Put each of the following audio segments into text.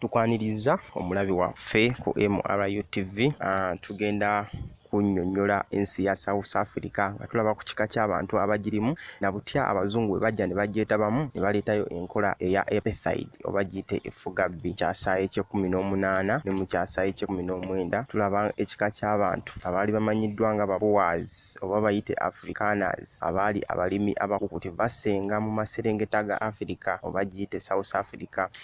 tukwaniriza omulabi waffe ku mrutv ah, tugenda kunyonyola ensi ya south africa nga tulaba ku kika ky'abantu abagirimu na butya abazungu bwe bajja ne bagyetabamu ne baleetayo enkola eya epethide oba giyite efugabbi kyasa ekyekumi n'omunaana ne mu kyasa ekyekumi n'omwenda tulaba ekika ky'abantu abaali bamanyiddwa nga baboas oba bayite africaners abaali abalimi abakukutivu basenga mu maserengeta ga africa oba giyite south africa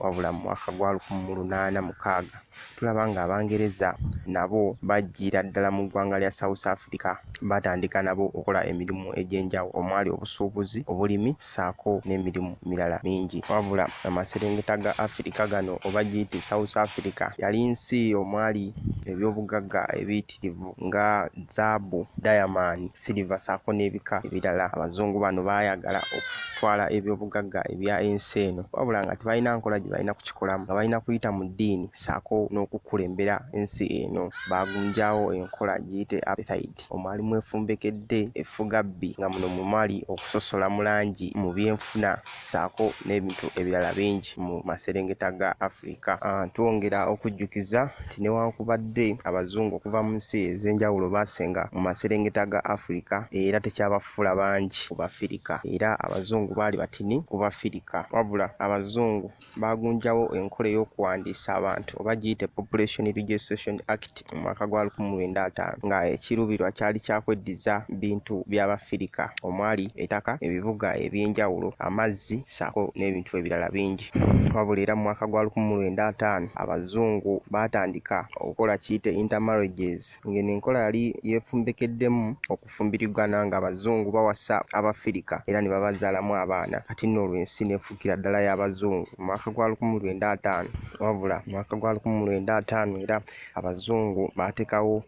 wabula mu mwaka gwa lukumu mu lunaana mukaaga tulaba nga abangereza nabo bajjiira ddala mu ggwanga lya south africa batandika nabo okola emirimu egy'enjawo omwali obusuubuzi obulimi saako n'emirimu mirala mingi wabula amaserengeta ga afirika gano oba giyite south africa yali nsi omwali ebyobugagga ebiyitirivu nga zaabu, dayamani, siriva ssaako n'ebika ebirala. Abazungu bano baayagala okutwala ebyobugagga ebya ensi eno wabula nga tebalina nkola gye balina kukikolamu nga balina kuyita mu ddiini ssaako n'okukulembera ensi eno. Baagunjaawo enkola giyite apartheid omwali mwefumbekedde effugabbi nga muno mwe mwali okusosola mu langi mu byenfuna. ssaako n'ebintu ebirala bingi mu maserengeta ga Afrika. Ah, twongera okujjukiza nti newankubadde abazungu okuva mu nsi ez'enjawulo baasenga mu maserengeta ga Afrika era tekyabafuula bangi ku Bafirika era abazungu baali batini ku Bafirika wabula abazungu baagunjawo enkola ey'okuwandiisa abantu oba giyite population registration act mu mwaka gwa 1905 nga ekiruubirwa kyali kyakweddiza bintu by'abafirika omwali etaka ebibuga eby'enjawulo amazzi saako n'ebintu ebirala bingi wabula era mu mwaka gwa 1905 abazungu baatandika okukola kiyite intermarriages ng'eno enkola yali yeefumbekeddemu fumbirigana nga abazungu bawasa abafirika era ne babazaalamu abaana kati nno olwo ensi nefuukira ddala y'abazungu mu mwaka gwa lukumu lwenda ataano wabula mu mwaka gwa lukumu lwenda ataano era abazungu baatekawo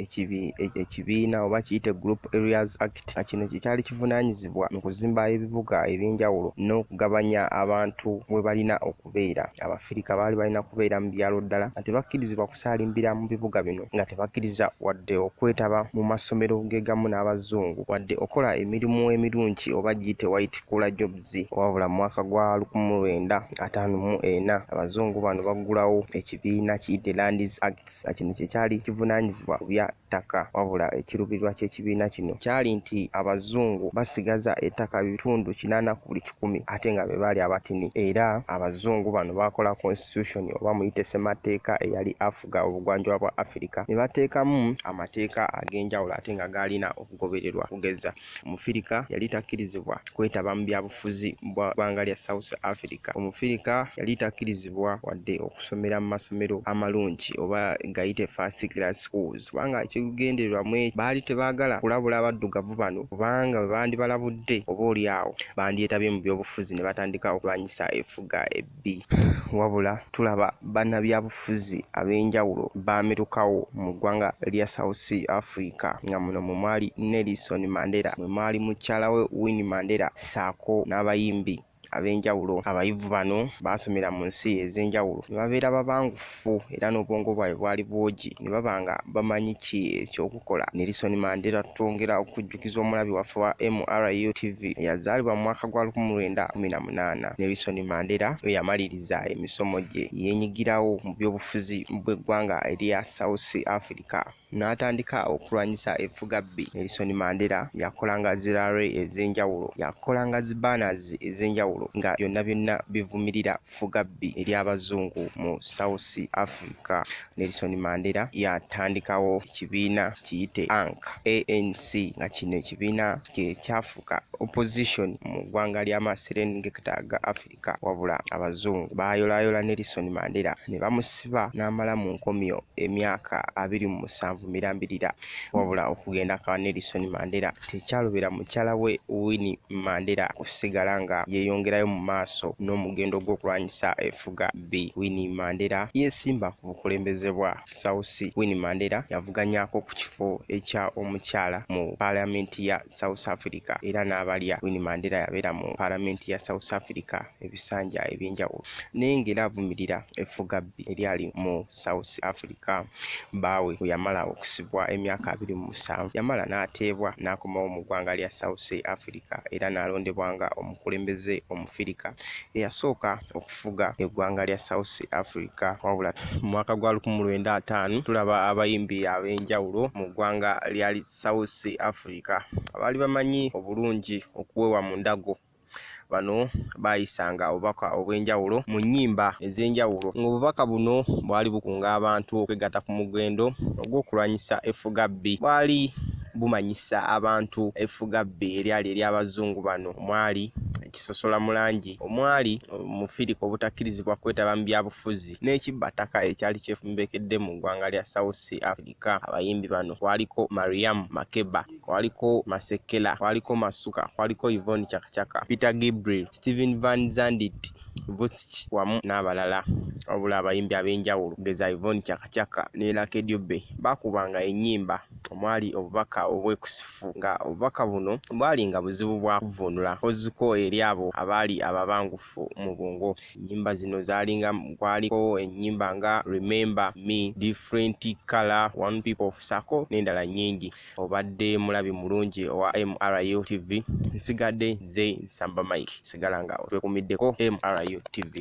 ekibiina oba kiyite group areas act nga kino kyekyali kivunaanyizibwa mu kuzimba ebibuga eby'enjawulo n'okugabanya abantu we balina oku kubeera abafirika baali balina kubeera mu byalo ddala nga tebakkirizibwa kusaalimbira mu bibuga bino nga tebakkiriza wadde okwetaba mu masomero gegamu n'abazungu wadde okola emirimu emirungi oba giyite white cooler jobs wabula mu mwaka gwa lukumu mu lwenda ataano mu ena abazungu bano baggulawo ekibiina kiyite lands acts nga kino kye kyali kivunaanyizibwa ku bya ttaka wabula ekirubirirwa ky'ekibiina kino kyali nti abazungu basigaza ettaka bitundu kinaana ku buli kikumi ate nga be baali abatini era abazungu bano baakola constitution oba muyite ssematteeka eyali afuga obugwanjuba bwa Afirika ne bateekamu amateeka ag'enjawulo ate nga gaalina okugobererwa okugeza Omufirika yali takkirizibwa kwetaba mu byabufuzi bwa ggwanga lya South Africa. Omufirika yali takkirizibwa wadde okusomera mu masomero amalungi oba gayite first class schools kubanga ekigendererwa mu ekyo baali tebaagala kulabula Abaddugavu bano kubanga bwe bandibalabudde oba olyawo bandyetabye mu byobufuzi ne batandika okulwanyisa effuga ebbi. Nabbi. Wabula tulaba bannabyabufuzi ab'enjawulo baamirukawo mu ggwanga lya South Africa nga muno mwe mwali Nelson Mandela, mwe mwali mukyala we Winnie Mandela ssaako n'abayimbi ab'enjawulo. Abayivu bano baasomera mu nsi ez'enjawulo ne babeera babangufu. buffu era n'obwongo bwabwe bwali bwogi ne baba nga bamanyi ki ekyokukola. Nelson Mandela twongera okujjukiza omulabi waffe wa MRUTV eyazaalibwa mu mwaka gwa lukumi lwenda kumi na munaana. Nelson Mandela lwe yamaliriza emisomo gye, yenyigirawo mu by'obufuzi bw'eggwanga erya South Africa. n'atandika okulwanyisa effugabbi. Nelson Mandela yakolanga zi rally ez'enjawulo, yakolanga zi banners ez'enjawulo nga byonna byonna bivumirira ffugabbi ery'Abazungu mu South Africa. Nelson Mandela yatandikawo ekibiina kiyite ANC, ANC nga kino ekibiina kye kyafuuka opposition mu ggwanga ly'Amaserengeta ga Africa. Afrika wabula abazungu baayolaayola Nelson Mandela ne bamusiba n'amala mu nkomyo emyaka abiri mu musanvu mirambirira wabula okugenda kwa Nelson Mandela tekyalobera mukyala we Winnie Mandela kusigala nga yeeyongerayo mu maaso n'omugendo gw'okulwanyisa efuga bbi. Winnie Mandela yeesimba ku bukulembeze bwa South Sea Winnie Mandela yavuganyako ku kifo ekya omukyala mu paalamenti ya South Africa era n'abalya Winnie Mandela yabeera mu paalamenti ya South Africa ebisanja eby'enjawulo naye ng'era avumirira effugabbi eryali mu South Africa baawe bwe yamala okusibwa emyaka abiri mu musanvu yamala n'ateebwa n'akomawo mu ggwanga lya South Africa era n'alondebwa nga omukulembeze omufirika eyasooka okufa okufuga eggwanga lya South Africa wabula mu mwaka gwa lukumu lwenda ataano tulaba abayimbi ab'enjawulo mu ggwanga lya South Africa abaali bamanyi obulungi okuwewa mu ndago bano baayisanga obubaka obw'enjawulo mu nnyimba ez'enjawulo ng'obubaka buno bwali bukunga abantu okwegatta ku mugendo ogw'okulwanyisa effugabbi bwali bumanyisa abantu effugabbi eryali ery'abazungu bano omwali ekisosola mu langi omwali omufirika obutakkirizibwa kwetaba mu byabufuzi n'ekibba ttaka ekyali kyefumbekedde mu ggwanga lya South Sea Africa. Abayimbi bano kwaliko Mariam Makeba, kwaliko Masekela, kwaliko Masuka, kwaliko Yvonne Chakachaka, Peter Gabriel, Steven Van Zandit, Vusic wamu n'abalala. Wabula abayimbi ab'enjawulo okugeza Yvonne Chakachaka ne Lucky Dube baakubanga ennyimba. omwali obubaka obwekusifu nga obubaka buno bwali nga buzibu bwa kuvvuunula koziko eri abo abaali ababangufu mu bwongo ennyimba zino zaalinga kwaliko ennyimba nga remember me different color one people sako n'endala nnyingi obadde mulabi mulungi owa mru tv nsigadde nze nsamba mike sigala nga otwekumiddeko mru tv